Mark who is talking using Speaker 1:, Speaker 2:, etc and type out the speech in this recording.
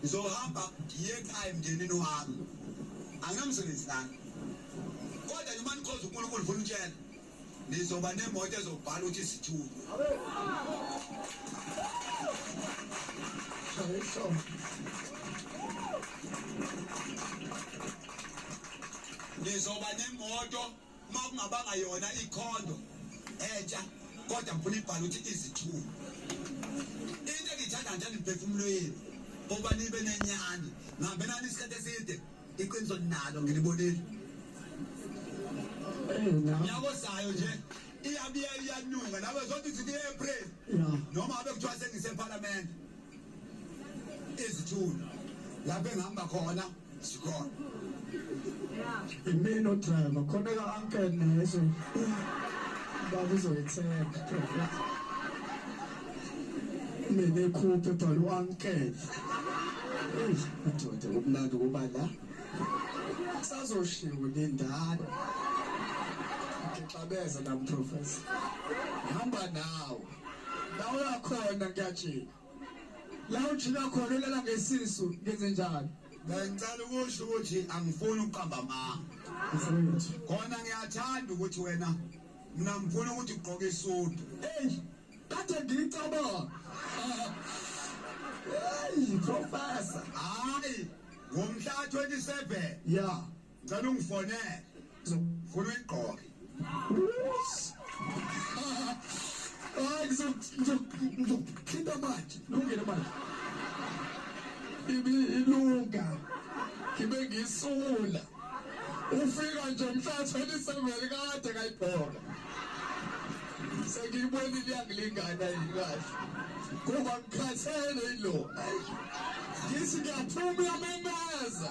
Speaker 1: ngizohamba ngiye ekhaya emndenini wami anginamsebenzi lana kodwa noma nikhoza unkulunkulu funa utshela nizoba nemoto ezobhala ukuthi isithunywa nizoba nemoto uma kungabanga yona ikhondo entsha kodwa ngifuna ibhala ukuthi izithulu into engiyithanda nje niphefumulo yenu ukuba nibe nenyani ngihambe nani isikhathi eside iqiniso ninalo ngilibonile nyako sayo nje iyabiya iyanuka nawe zothi zithi e-april noma abe kuthiwa sengisephalamende izithunywa lapho engihamba khona sikhona
Speaker 2: imina odriver khona ka uncle nezo baba uzoyithemba mina ekhuphe bhala u-uncle udoda kumnandi ukuba la sazoshiwo nendala ngixabeza namprofesa hamba nawo la uyakhona ngiyajika la ujika khona ulala ngesisu ngenze njalo ngicela ukusho
Speaker 1: ukuthi angifuni ukuqamba amanga khona ngiyathanda ukuthi wena mina ngifuna ukuthi ugqoke isudu eyi kade
Speaker 2: ngiyicabanga eyi professor hayi
Speaker 1: ngomhla 27 ya
Speaker 2: Ngicela ungifonele.
Speaker 1: Ngifuna uyigqoke.
Speaker 2: Hayi ngizokuthinta manje. Lungile manje. Ibiyilunga. Ngibe ngisula. Ufika nje mhlatshwa eliseveli kade kayibhola. Sengiyibonile iyangilingana yini kahle. Kuba ngikhathele yilo. Ngithi ngiyaphuma uyamemeza.